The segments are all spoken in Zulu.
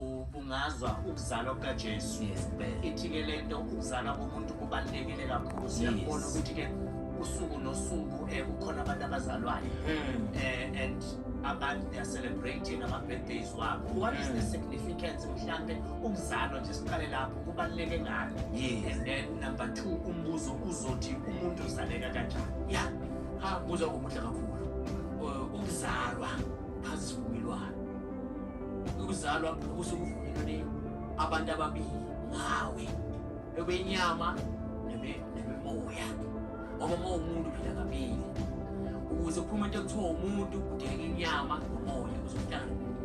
ubungazwa ukuzalwa kukajesu ithi-ke le nto ukuzalwa komuntu kubalulekile kakhulu siyakubona ukuthi-ke usuku nosuku um eh, kukhona abantu abazalwayo um and abantu they are celebrating ama-birthdays wabo what is the hmm. significance mhlawumbe ukuzalwa nje siqale lapho kubaluleke ngani and then number two umbuzo uzothi umuntu uzaleka kanjani ya ha buza komuhle kakhulu eh, ukuzalwa phansi sivumelwano ukuzalwa kubusa ubudlelwane abantu ababili ngawe bebenyama nemimoya ngoba uma umuntu phila kabili ukuze kuphume into ekuthiwa umuntu kudingeka inyama nomoya uzohlala nomuntu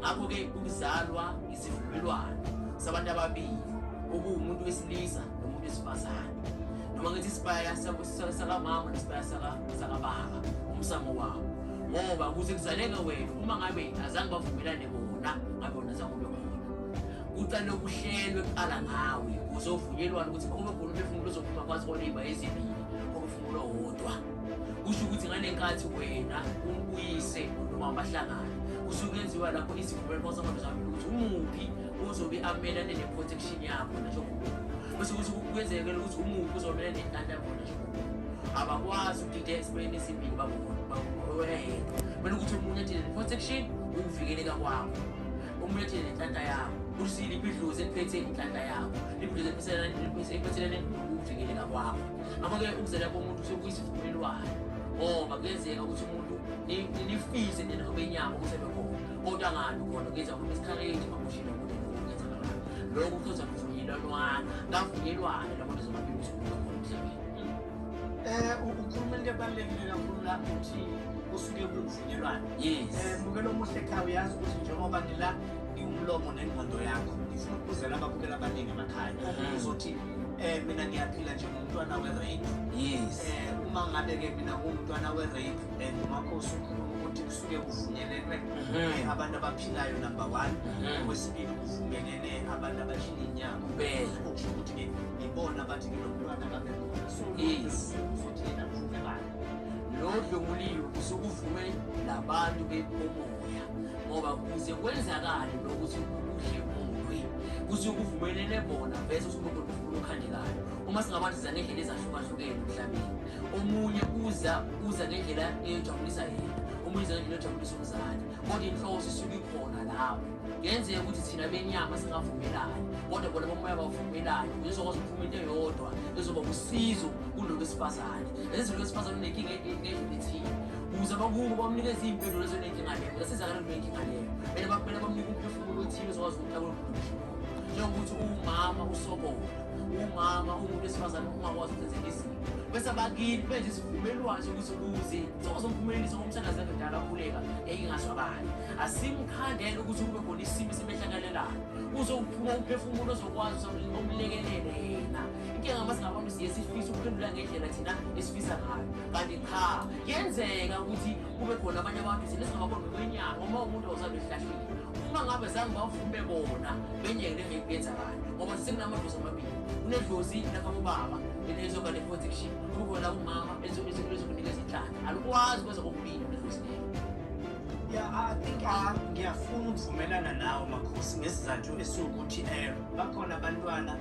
ngakho-ke ukuzalwa isivumelwano sabantu ababili okuwumuntu wesilisa nomuntu wesifazane noma ngithi isibaya sakamama nesibaya sakababa umsamo wawo ngoba kuze kuzaleke wena uma ngabe azange bavumelane bona ngabe wona azange ube khona kuqale kuhlelwe kuqala ngawe kuze uvunyelwane ukuthi kube khona umphefumulo ozophuma kwazi kwaleyba ezibili komphefumulo wodwa kusho ukuthi ngale nkathi wena uyise noma bahlangana kusuke kuyenziwa lapho izivumelwano kwasamabili zami ukuthi umuphi ozobe amelane ne-protection yakho nasho bese kuthi kuyenzekela ukuthi umuphi uzomelane nentantabona abakwazi ukudideka esibayeni esimbili bakuwena yedwa kumele ukuthi omunye athele ne-protection ukuvikeleka kwakho omunye athele nenhlanhla yakho ukuthi liphi idlozi eliphethe inhlanhla yakho liphi idlozi eliphethelene ukuvikeleka kwakho ngakho-ke ukuzela komuntu sekuyisivumelwano ngoba kuyenzeka ukuthi umuntu nifise nina obenyama ukuthi abekhona Kodwa ngani khona ngenza umuntu isikhareji makushilo ukuthi ngenza ngalo. Lokho kuzoza kuvunyelwana, kavunyelwana lapho nizobabili usuku emhlabeni. Eh ukhuluma into ebalulekile kakhulu la ukuthi kusuke kuvunyelwana. Yes. Eh mukelo muhle ekhaya uyazi ukuthi njengoba ngila iwumlomo nengqondo yakho ngifuna ukuzela ababukela abaningi emakhaya. Uzothi eh mina ngiyaphila njengomntwana we-rape yes eh uma ngabe-ke mina ngumntwana we-rape and umakhosi ukhuluma ukuthi kusuke kuvunyelelwe mhm. abantu abaphilayo number one mhm. okwesibili kuvumelene abantu abashiya inyama okusho ukuthi ngibona abathi nginomntwana kabekhona so futhi yena kuvumelana lo dlunguliwe kusuke uvume labantu bekomoya ngoba kuze kwenzakale lokuthi ukudle umulwe kusuke kuvumelene bona vese usuke ukhandekayo uma singabantu zanendlela ezahlukahlukene emhlabeni omunye uza uza ngendlela eyojabulisa yena omunye uza ngendlela eyojabulisa umzali kodwa inhloso isuke ikhona lapho ngenzeka ukuthi thina benyama singavumelani kodwa bona bomoya bavumelani uzokwazi ukuphuma into eyodwa ezoba usizo kulo wesifazane ezizilo wesifazane unenkinga ngendlela ethile ukuze bakubo bamnikeze iy'mpendulo zonenkinga leyo zasizakala kunenkinga leyo kumele bamnike umphefumulo othile uzokwazi ukuthi njengokuthi uwumama usobola umama umuntu wesifazane ungakwazi ukwenzeka izinto bese abakini benje isivumelwano sokuthi kuze sokuzomphumeleliswa ngomthandazi endala akhuleka eyingasho abanye asimkhandele ukuthi kube khona isimo esimehlakalelayo uzokuphuma umphefumulo ozokwazi omlekelele yena inkinga uma singabantu siye sifisa ukuphendula ngendlela thina esifisa ngayo kanti cha yenzeka ukuthi kube khona abanye abantu thina singababona ngokwenyanga uma umuntu ozalwa ehlahlile uma ngabe zange bavume bona benyeke le mephi yenzakala ngoba sekunamadlozi amabili kunedlozi lakamubaba elizoba ne-protection kukhona umama elizokunika izinhlaka alikwazi kweza kokubili nedlozi lelo ya i think ah, ngiyafuna ukuvumelana nawo makhosi ngesizathu esiwukuthi um bakhona abantwana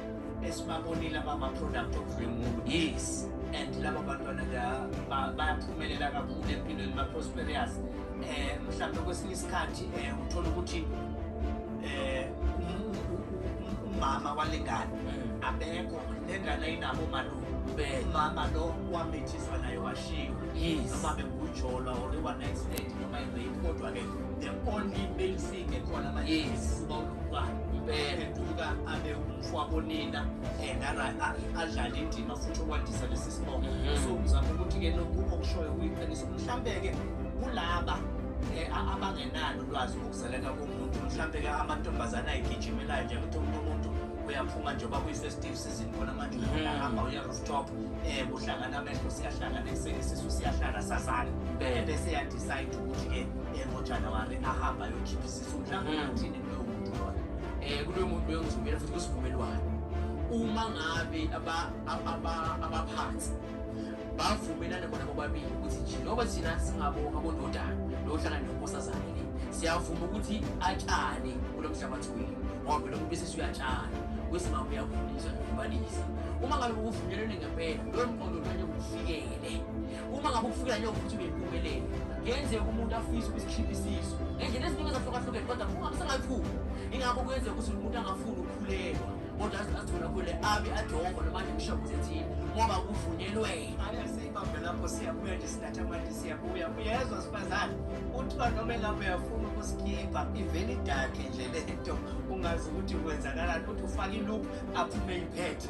esibabonile abama-product of the moon yes and laba bantwana bayaphumelela kakhulu empilweni ba-prosperious um eh, mhlawumbe kwesinye isikhathi um eh, uthole ukuthi um umama walengane mm. abekho nengane ayinabo malume umama lo wamithiswa naye washiwa noma bengujolwa or iwa-next noma ibe kodwa-ke the only male ingekhona manje uba uduka impela eduka abe umfo wabonina and adlale indima futhi okwandisa lesi sibongo mhm. so ngizama ukuthi-ke lokhu okushoyo kuyiqiniso mhlawumbe-ke kulaba eh, abangenalo ulwazi ngokuzaleka komuntu mhlawumbe-ke amantombazane ayigijimelayo nje ukuthi umuntu umuntu uyaphuma nje uba kwi-festive season khona manje mhm. uyahamba uya rooftop um kuhlangana amehlo siyahlangana ekuseni isisu siyahlala sazana bese yadecide ukuthi-ke emotshana wari ahambe ayokhipha isisu mhlawumbe Mm. athini kuloyo muntu loyo um kuloyo muntu loyo ngizovela futhi kusivumelwano uma ngabe aba- aba- aba- abaphansi bavumelane bona bobabili ukuthi nje njengoba thina singabonga bonodana nohlangana nenkosazane le siyavuma ukuthi atshane kulo mhlabathi wenu ngoba phela umuntu besesi uyatshana kwesinga uyakhuliswa nokubalisa uma ngabe kuvunyelwene ngempela loyo mqondo lanye kufikele uma ngabe ukufika nje ukuthi uyephumelele kuyenzeka umuntu afise ukusikhipha isisu ngendlela eziningi ezahlukahlukene kodwa uma kusengakhulu ingakho kuyenzeka ukuthi umuntu angafuni ukukhulelwa kodwa azithola khule abe adongo noma nje kushabu zethini ngoba kuvunyelwe ayaseyibambe lapho siyabuya nje sinatha manje siyabuya uyezwa sifazane kuthiwa noma engabe uyafuna ukusikhipha ivele idakhe nje le nto ungazi ukuthi kwenzakalani ukuthi ufake iluphu aphume iphethe